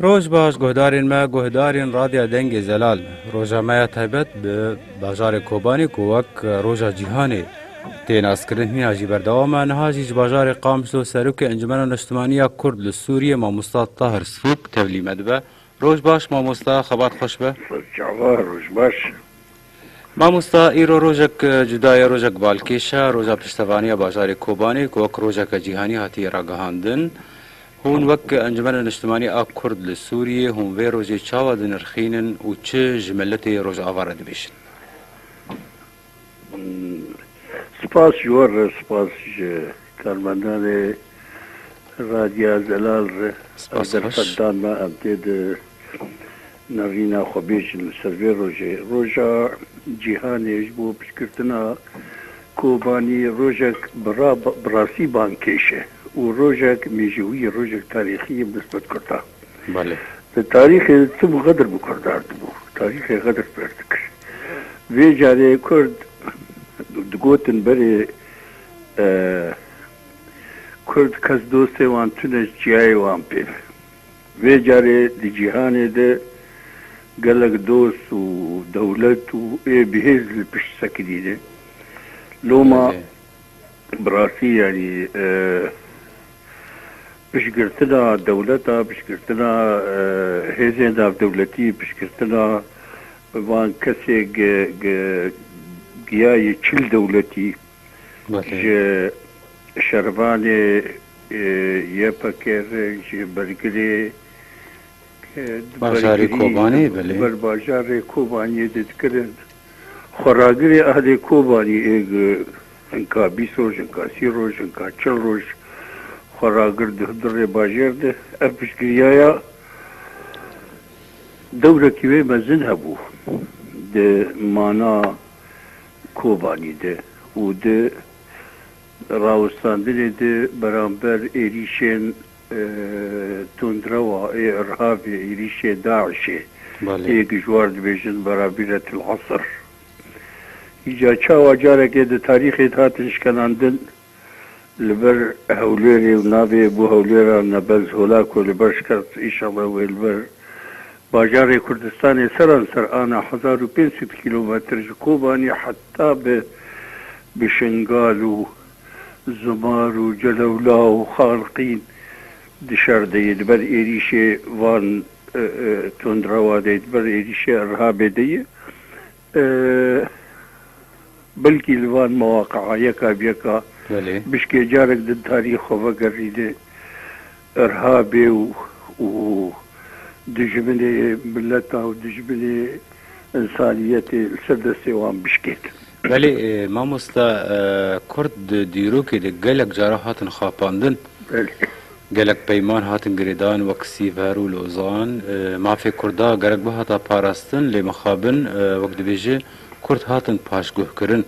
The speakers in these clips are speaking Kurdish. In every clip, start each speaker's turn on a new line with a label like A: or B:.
A: Roj baş guhdarên me, guhdarên Radya Dengê Zelal. Roja me ya taybet bi bajarê Kobanê ku wek Roja Cîhanê tê naskirin hîna jî berdewam e. Niha jî ji bajarê Qamşlo Serokê Encumena Niştimanî ya Kurd li Sûriyê Mamosta Tahir Sfûk tevlî me dibe. Roj baş mamosta, xebat xweş be. Çawa roj
B: baş.
A: Mamosta îro rojek cuda ye, rojek balkêş e, roja piştevaniya bajarê Kobanê ku wek rojeke cîhanî hatiye ragihandin. Hûn wek Encumena Niştimanî a Kurd li Sûriyê hûn vê rojê çawa dinirxînin û çi ji miletê Rojava re dibêjin?
B: Spas ji wan re, spas ji karmendanê Radya Zelal re, ew dersek
A: dan na em
B: tê di Navîna xwe bêjin li ser vê rojê, roja cîhanê ji bo piştgirtina Kobanî rojek bi rastî bangkêş e û rojek mêjewî ye, rojek tarîxî ye bi nisbet Kurdan.
A: Di tarîxê de
B: tim Xedir bi Kurdan dibû, tarîxê Xedir fêr dikir. Vê carê Kurd digotin berê Kurd kes dostê wan tune ji çiyayê wan pê be. Vê carê di cîhanê de gelek dost û dewlet û ê bihêz li pişt sekidî ne. Loma bi rastî yanî piştgirtina dewleta, piştgirtina hêzên navdewletî, piştgirtina bi van kesê giya yê çil dewletî, Ji şervanê YPG ve ji bergirê
A: bajarê Kobaniyê ve li ber bajarê Kobaniyê
B: didikirin. Xweragirê erdê Kobaniyê hinka bîst roj, hinka sî roj, hinka çil roj xweragir dihdu rê bajêr de. Ev piştgiriyaya dewrekî wê mezin hebû di mana Kobanî de û di rawestandinê de beramber êrîşên tundrewa ê Irhabê, êrîşê DAIŞ'ê yê ku ji war dibêjin Barabîretil Esr. Îca çawa carekê di tarîxê de hatin şkenandin? Li ber Hewlêrê û navê bû Hewlêra Nebez Hola ku li baş ket înşallah wê li ber bajarê Kurdistanê seranser ana hezar û pênc sed kîlometr ji Kobanî heta bi bi Şingal û Zumar û Celewla û Xalqîn di şer de ye, di ber êrîşê van tundrawa de ye, di ber êrîşê Erhabê de ye. Belkî li van mewaqe'a yeka bi yeka bişkê carek di tarî xwe vegerînê rha bê û û dijminê mileta û dijminê insaniyetê li ser destê wan bişkêt. Belê
A: mamosta, kurd di dîrokê de gelek cara hatin xapandin. Belê. Gelek peyman hatin girêdan wek Sîvher û Lozan. Mafê Kurda gerek bihata parastin lê mixabin wek dibêje Kurd hatin paşguhkirin.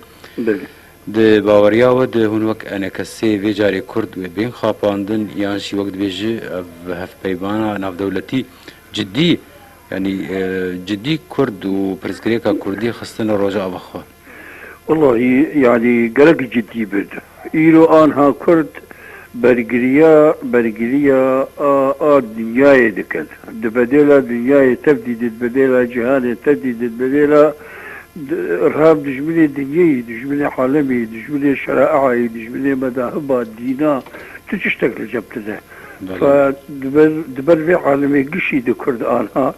A: Di baweriya we de hûn wek enekesê vê carê Kurd wê bên xapandin yan jî wek dibêje ev hevpeymana navdewletî cidî yanî cidî Kurd û pirsgirêka Kurdî xistine roja ava xwe. Wellahî
B: yanî gelek cidî bin. Îro anha kurd bergiriya bergiriya a a dinyayê dikin. Di bedêla dinyayê tev dîdin, di bedêla cîhanê te dîdin, di bedêla irhab dijminê dinyeyî, dijminê alemî, dijminê şereeayî, dijminê medahiba, dîna tu çi ştek li cep dide. Belê. Fa di ber di ber vê alemê gişî di kurd anha.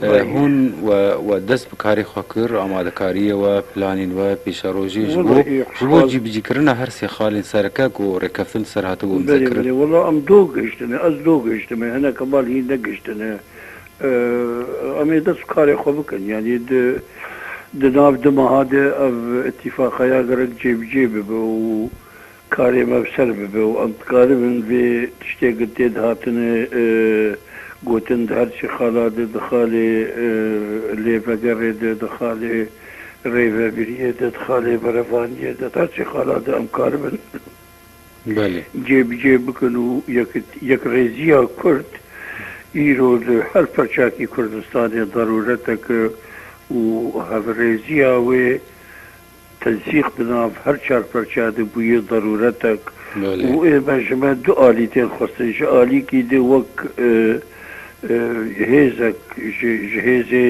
A: Hûn we dest bi karê xwe kir, amadekariyê we, planên we, pêşerojê ji bo ji bo cîbicîkirina her sê xalên sereke ku rêkeftin ser hatibû îmzekirin. Belê belê wela em do
B: gihiştine, ez do gihiştime, hinek heval hîn negihiştine. Em ê dest bi karê xwe bikin. Yanî di nav du meha de ev îtîfaqaya gerek cêbicê bibe û karê me bi ser bibe û em dikaribin vê tiştê ku tê dihatine gotin di her çi xala de, di xalê lê vegerê de, di xalê rêvebiriyê de, di xalê berevaniyê de, di her çi xala de em karibin
A: cê bi cê
B: bikin û yekrêziya Kurd îro li her perçakî Kurdistanê zerûretek e û hevrêziya wê Tensîq di nav her çar perçeya de bûye darûretek û ê me ji me du alî tên xwestin. Ji alîkî de wek hêzek ji hêzê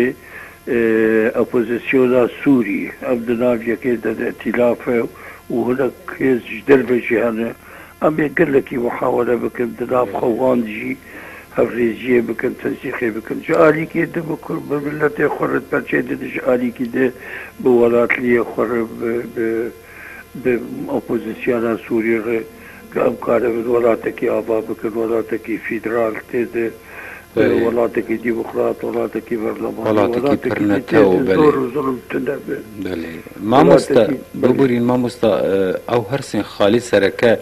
B: opozîsyona Sûrî, ev di nav yekê de de îtîlaf e û hinek hêz ji derve jî hene. Em ê gelekî muhawele bikin, di nav xwe wan de jî hevriziyê bikin, tensîqê bikin. Ji alîkê di bi kur, bi miletê xwe re perçê dide, ji alîkî di bi welatliyê xwe re, bi bi opozisyona Sûrî re, em karibin welatekî ava bikin, welatekî fîdral tê de. Welatekî demokrat, welatekî berlamanî, welatekî jî
A: tê zor û zulm tune bi. Belê. Mamoste, biborîn mamoste, ew hirsên xalî sereke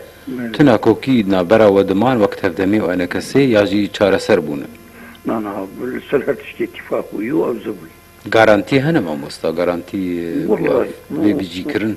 A: tune ku kî navbera we diman wek tevdemî û enekesê ya jî çareser bûne? Na na,
B: li ser her tiştî îtîfaq bûye û ew zibûye. Garantî hene
A: mamoste, garantî ku ev
B: bê bicîkirin?